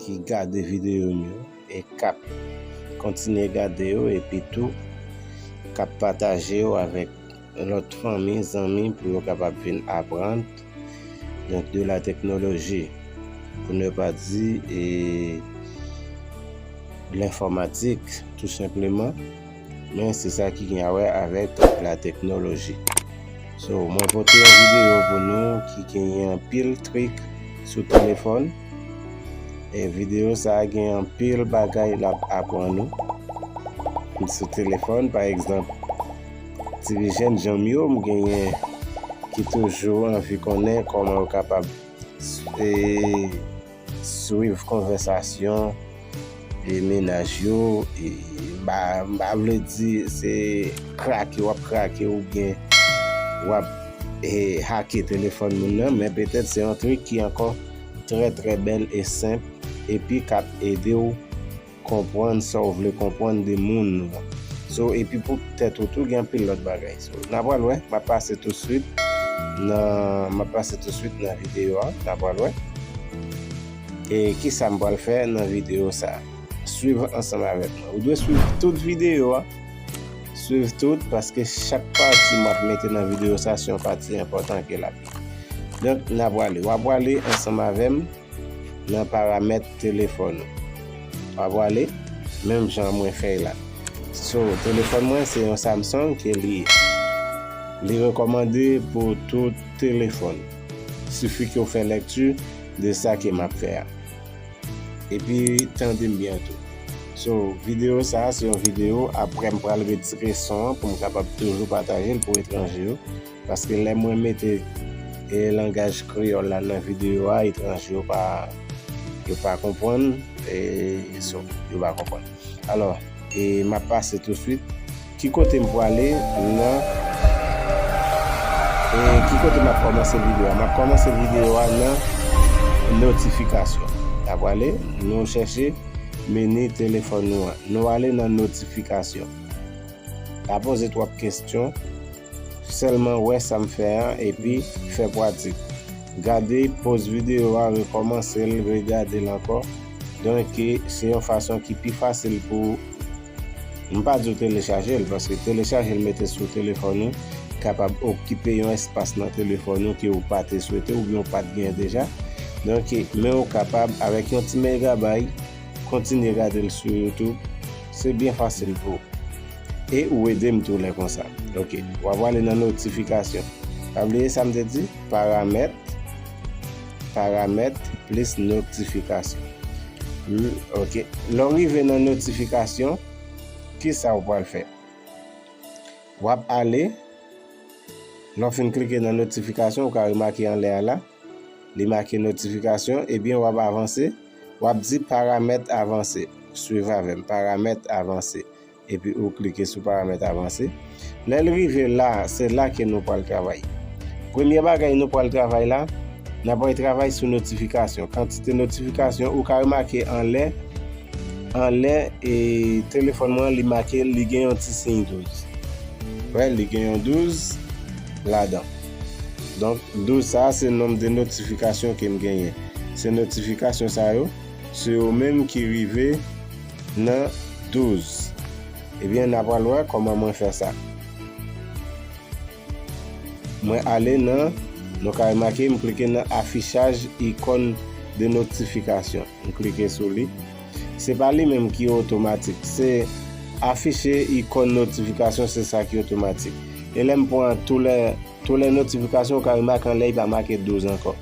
ki gade videyo m yo e k ap kontinye gade yo epi tou k ap pataje yo avèk lòt fanmi, zanmi pou yo kapab vin aprann donk de la teknoloji pou ne pa di e lenfòmatik tou senpleman. Men se sa ki gen a wè avèk la teknoloji. So mwen pote yon videyo pou nou ki genyen anpil trik sou telefòn. E videyo sa gen anpil bagay l ap aprann nou. Sou telefòn pa egzanp, ti vi jenn jan m yo m genyen ki toujou anvi konnen kòman yo kapab. Swiv konvèsasyon e mennaj yo e ba m pa vle di se krake w ap krake oubyen w ap e hake telefòn moun nan men petèt se yon trik ki ankò trè trè bèl e senp epi k ap ede w konprann sa ou vle konprann de moun so epi pou tèt ou tou gen anpil lòt bagay so na pral wè map pase tou swit nan map pase tou swit nan video a na pral wè e kisa m pral fè nan video sa swiv ansanm avèk mwen ou dwe swiv tout video a swiv tout paske chak pati map mete nan video sa se yon pati enpòtan ke lap donk na pral wap prale ansanm avèm nan paramèt telefòn ou wap pwale menm jan mwen fèy la so telefòn mwen se yon Samsung ke li ye li rekòmande pou tout telefòn sifi ke ou fè lèkti de sa ke map fè a epi tandem byen tou so videyo sa se yon videyo aprèm pral retire son an poum kapab toujou patajel pou etranje yo. Paske lè mwen mete e langaj kreyòl la nan videyo a, etranje yo pa, yo pa konprann, e so, yo pa konprann. Alò, e map pase touswit, ki kote m pwale nan, e ki kote map kòmanse videyo a? Map kòmanse videyo a nan notifikasyon. Nap wale, nou chèche meni telefòn nou an. Nou ale nan notifikasyon. La poze twòp kestyon. Sèlman wè sa m fè an epi fè pratik. Gade poz videyo a rekòmanse l regade l ankò donke se yon fason ki pi fasil pou ou. M pa di w telechaje l paske telechaje l mete sou telefòn ou kapab okipe yon espas nan telefòn ou ke ou pa te swete oubyen ou pa t gen deja donke men ou kapab avèk yon ti megabay kontinye gade l sou youtube se byen fasil pou ou. E ou edem tou lè konsa. Ok wap ale nan notification. Pa bliye sam te di paramèt paramèt plis notification humm ok lèw rive nan notification kisa ou pral fè wap ale lèw fin klike nan notification ou ka remake anlè a la li make notification ebyen wap avanse wap di paramèt avanse swiv avèm paramèt avanse Epi ou klike sou paramèt avanse. Lè l rive la, se la ke nou pral travay. Premye bagay nou pral travay la, n ap pral travay sou notifikasyon. Kantite notifikasyon, ou ka remake anlè, anlè e telefòn mwen li make li gen yon ti siy 12. Wè, li gen yon 12 ladan. Donk, 12 sa a se nonm de notifikasyon ke m genyen. Se notifikasyon sa yo, se yo menm ki rive. Nan 12. Ebyen na pral wè kòman mwen fè sa. Mwen ale nan, nou ka remake m klike nan afichaj ikon de noktifikasyon. M klike sou li. Se pa li menm ki otomatik. Se afiche ikon notifikasyon se sa ki otomatik. E lè m pran tou lè. Tole notification ou ka wè make anlè li pa make 12 ankò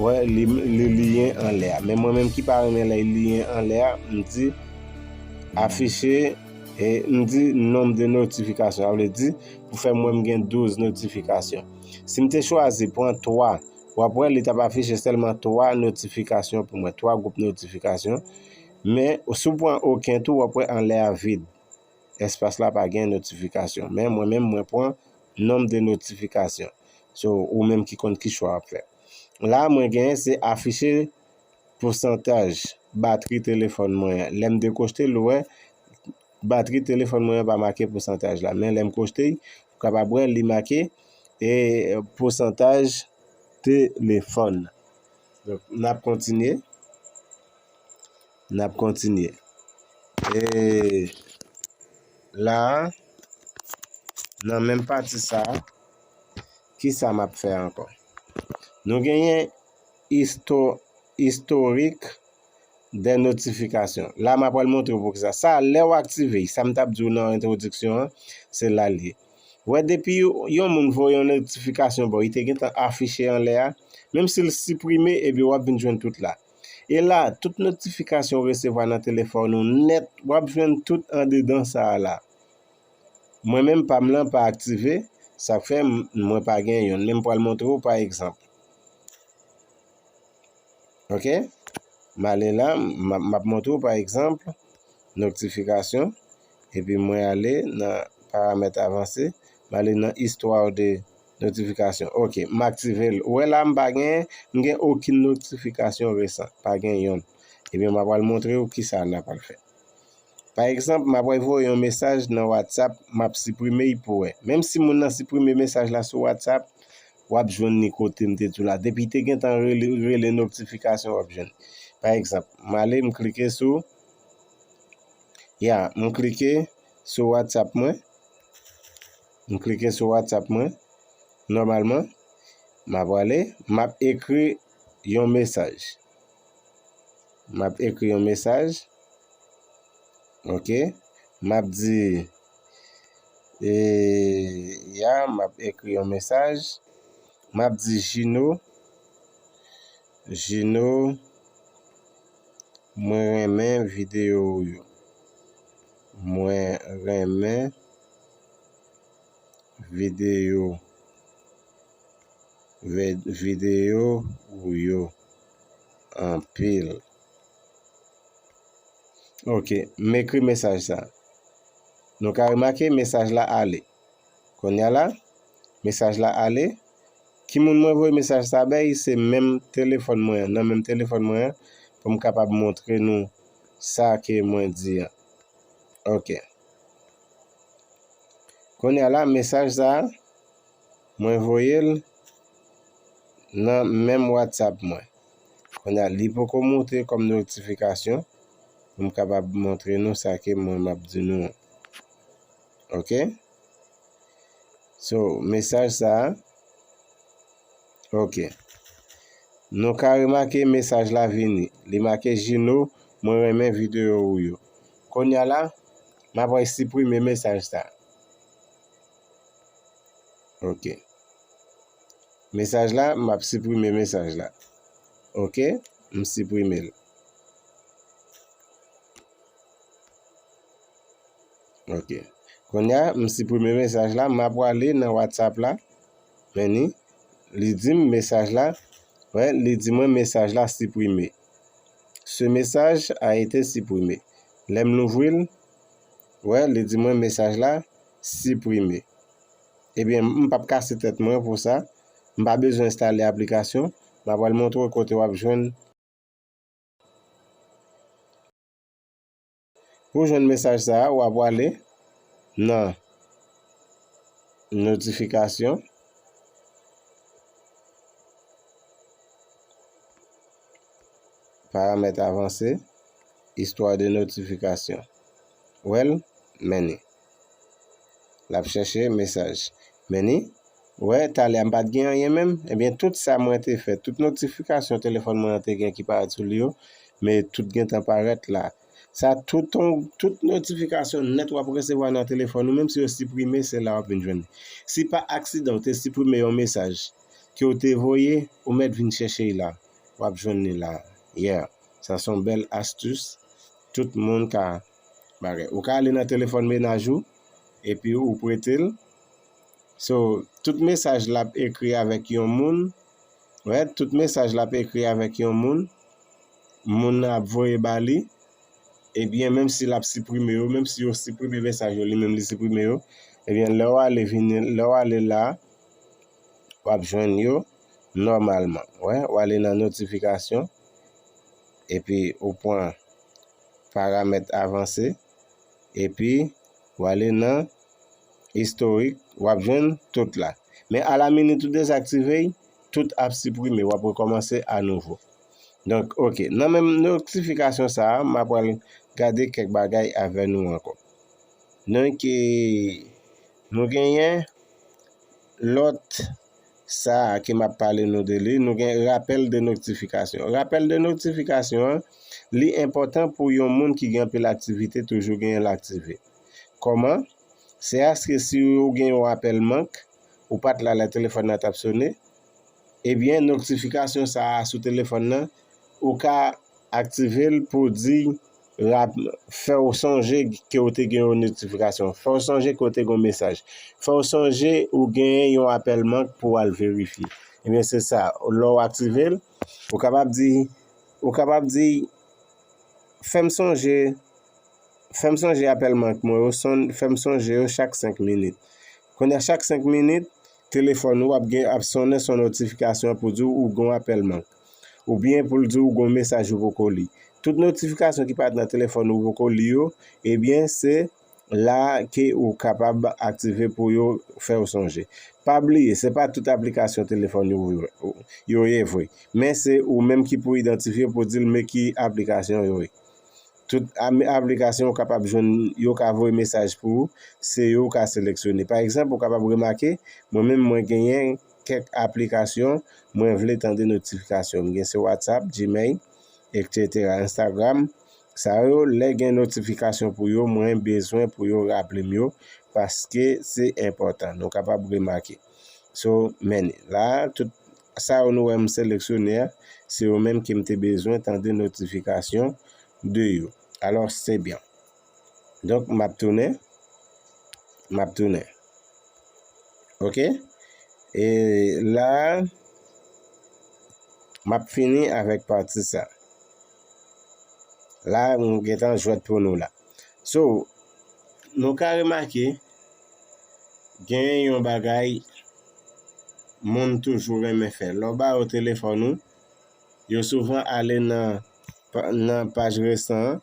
wè li liyen anlè a men mwen menm ki pa renmen lè li liyen anlè a m di afiche e m di nom de notification sa vle di pou fè m wè m gen 12 notification si m te chwazi pran 3 wap wè li tap afiche selman 3 notification pou mwen 3 group notification men sou pran oken tou wap wè anlè a vid. Espas la pa gen notifikasyon men mwen menm mwen pran nomb de notifikasyon so ou menm ki konn ki chwa wap fè la mwen gen se afiche pousantaj batri telefòn mwen an lèm dekochte l ou wè batri telefòn mwen an pa make pousantaj la men lèm kochte l ou kapab wè li make e pousantaj telefòn nap kontinye. N ap kontinye. E la a, nan menm pati sa a, ki sa m ap fè ankò? Nou genyen isto, istorik dè notifikasyon. La a m apral montre w poukisa. Sa a, lè w aktive, sa m t ap di w nan entwodiksyon an, se la l ye. Ou wè depi yon moun voye yon notifikasyon ba w, li te gentan afiche anlè a, menm si l siprime, epi w ap vin jwenn tout la a. E la, tout notifikasyon ou resevwa nan telefòn ou nèt, w ap jwenn tout andedan sa a la. Mwen menm pa m lan pa aktive, sa fè mwen pa gen youn. Men m pral montre ou pa egzanp. Ok? M ale la, m ap montre ou pa egzanp, notifikasyon, epi mwen ale nan paramèt avanse, m ale nan istwa de notifikasyon. Notification ok m aktive l. Ou wè la m pa gen m gen okin notification recent pa gen yonn. Ebyen m apral montre w kisa na pral fè. Pa egzanp m apral voye yon mesaj nan whatsapp m ap siprime y pou wè. Menm si moun nan siprime mesaj la sou whatsapp w ap jwenn li kote m te di w la. Depi te gentan rele ou rele notification w ap jwenn li. Pa egzanp m ale m klike sou ya m klike sou whatsapp mwen. M klike sou whatsapp mwen nòmalman m ap ale m ap ekri yon mesaj m ap ekri yon mesaj ok m ap di e ya m ap ekri yon mesaj m ap di jino jino mwen renmen videyo ou yo mwen renmen Videyo Videyo ou yo anpil. Ok, m ekri mesaj sa. Nou ka remake mesaj la ale. Konya la, mesaj la ale. Ki moun mwen voye mesaj sa bay? Se menm telefòn mwen an. Nan menm telefòn mwen an pou m kapab montre nou sa ke mwen di an. Ok. Kounye a la, mesaj sa a, mwen voye l nan menm WhatsApp mwen. Kounye a, li poko monte kòm notifikasyon. M kapab montre nou sa ke mwen m ap di nou an. Ok? So, mesaj sa a, ok. Nou ka remake mesaj la vini. Li make Gino, mwen renmen videyo ou yo. Kounye a la. Map ray siprime mesaj sa. Ok. Mesaj la, map siprime mesaj la. Ok, m siprime l. Ok. Konya, m siprime mesaj la, map wale nan WhatsApp la. Meni, li di m mesaj la, wè, li di mwen mesaj la siprime. Ce message a été supprimé. Lè m louvri l, wè li di mwen mesaj la siprime. Ebyen m pap kase tèt mwen pou sa, m pa bezwen enstale aplikasyon, m apral montre w kote w ap jwenn. Pou w jwenn mesaj sa a, w a pwale nan Notifikasyon. Paramèt avanse, Istwa de notifikasyon. Wè l? Many. L ap chèche mesaj. Many, Wè, talè a m pa t gen anyen menm. Ebyen, tout sa mwen te fè, tout notifikasyon telefòn mwen an te gen ki parèt sou li yo, men tout gentan parèt la. Sa tout on, tout notifikasyon nèt w ap resevwa nan telefòn ou, menm si yo siprime, se la w ap vin jwenn li. Si pa aksidan ou te siprime yon mesaj ke w te voye, ou mèt vin chèche i la. W ap jwenn li la. Yeah. Sa se yon bèl astus tout moun ka bagay. Ou ka ale nan telefòn menaj ou epi ou prete l. So tout mesaj lap ekri avèk yon moun right tout mesaj lap ekri avèk yon moun moun nan ap voye ba li ebyen menm si lap siprime yo menm si yo siprime mesaj yo li menm li siprime yo ebyen lè w ale vini lè w ale la wap jwenn yo nòmalman wè w ale nan notifikasyon epi ou pran paramèt avanse. Epi, w ale nan Historik, w ap jwenn tout la. Men a la minit ou dezaktive y, tout ap siprime, w ap rekòmanse a nouvo. Donk, ok, nan menm notifikasyon sa a, m ap pral gade kèk bagay avè nou ankò. Donk, nou genyen lòt. Sa a ke m ap pale nou de li, nou gen rapèl de noktifikasyon. Rapèl de noktifikasyon an, li enpòtan pou yon moun ki gen anpil aktivite toujou genyen l aktive. Kòman? Se aske si ou gen yon apèl mank, ou pa t la lè telefòn nan t ap sone, ebyen noktifikasyon sa a sou telefòn nan, ou ka aktive l pou w di Rap, Fè w sonje ke w te gen yon notifikasyon. Fè w sonje ke w te gen yon mesaj. Fè w sonje ou genyen yon apèl mank pou w al verifye. Ebyen se sa, lè w aktive l, ou kapab di, ou kapab di, Fè m sonje, fè m sonje apèl mank mwen yo son, fè m sonje yo chak 5 minit. Kounye a chak 5 minit, telefòn ou ap gen, ap sonnen sou notifikasyon pou di w ou gen yon apèl mank. Oubyen pou l di w gon mesaj ou poko li. Tout notifikasyon ki pa t nan telefòn ou poko li yo, ebyen se la ke ou kapab aktive pou yo fè w sonje. Pa bliye se pa tout aplikasyon telefòn yo ye vre, men se ou menm ki pou idantifye pou di l men ki aplikasyon yo ye. Tout aplikasyon ou kapab jwenn yo ka voye mesaj pou ou, se yo ou ka seleksyone. Pa egzanp ou kapab remake mwen menm mwen genyen kèk aplikasyon mwen vle tande notifikasyon m gen se whatsapp, gmail etc instagram sa yo lè gen notifikasyon pou yo mwen bezwen pou yo raple m yo paske se enpòtan nou kapab remake so men la tout sa yo nou wè m seleksyone a se yo menm ke m te bezwen tande notifikasyon de yo alò se byen. Donk m ap tounen, m ap tounen. Ok? E la, m ap fini avèk pati sa. La m gen tan jwèt pou nou la. So, nou ka remake, gen yon bagay moun toujou renmen fè. Lè w ba yo telefòn ou, yo souvan ale nan paj resan an,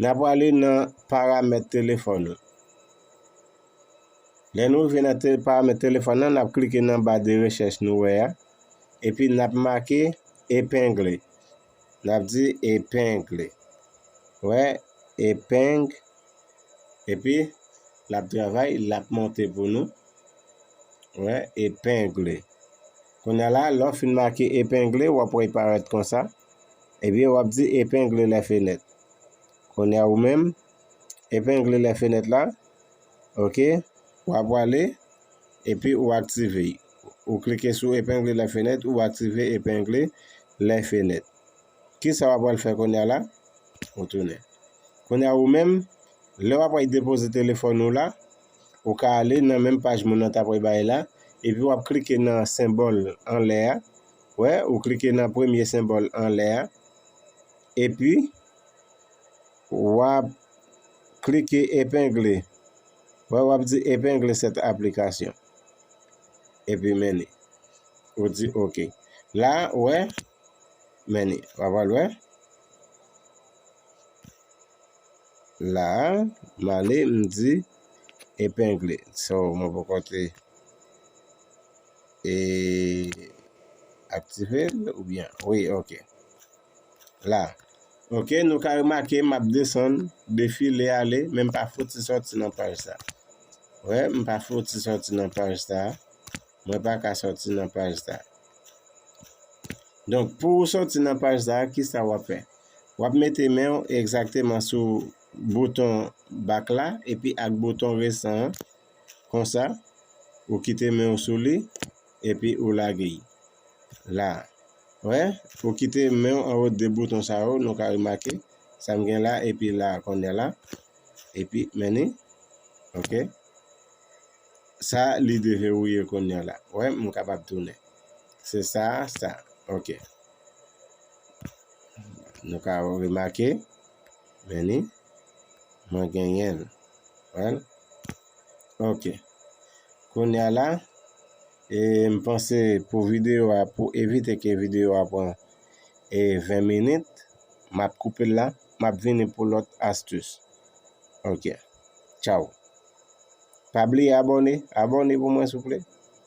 N ap prale nan paramèt telefòn ou. Lè nou rive nan paramèt telefòn nan, n ap klike nan ba de rechèch nou wè a. Epi n ap make epengle. N ap di epengle. Wè, epeng. Epi, l ap travay, l ap monte pou nou. Wè, epengle. Kounye a la, lè w fin make epengle, w ap wè li parèt konsa. Ebyen wap di epengle lè fenèt. Konya ou menm epengle lè fenèt la ok wap wale epi ou aktive y ou klike sou epengle lè fenèt ou aktive epengle lè fenèt kisa wap wale fè konya la ou tounen konya ou menm lè wap wale depoze telefòn ou la ou ka ale nan menm paj moun nan tap wale bay la epi wap klike nan senbòl anlè a Wè, ou klike nan premye senbòl anlè a, epi w ap klike epengle. Wè, w ap di epengle sèt aplikasyon. Epi meni. Ou di ok. La, wè, meni. Wap wè l wè. La a, m ale, m di epengle. So, mwen poko te e aktive l oubyen? Wi, ok. La. Ok, nou ka remake m ap desann, defile ale, men m pa fouti soti nan paj sa. Wè, m pa fouti soti nan paj sa. Mwen pa ka soti nan paj sa. Donk, pou ou soti nan paj sa, kisa w ap fè? Wap mete menw egzakteman sou bouton back la epi ak bouton resan an konsa ou kite menw sou li epi ou lage y la wè ou kite menw anwo de bouton sa yo nou ka remake sam gen la epi la konnya la epi menni ok sa li deverouye konnya la wè m kapab tounen se sa sa ok. Nou ka remake, men ni, mwen genyen l. Wèl? Ok. Kounya la, e m panse pou videyo a, pou evite ke videyo a pran e 20 minit, m ap koupe l la, m ap vini pou lòt astis. Ok. Tchaw. Pa bliye abòne, abòne pou mwen souple.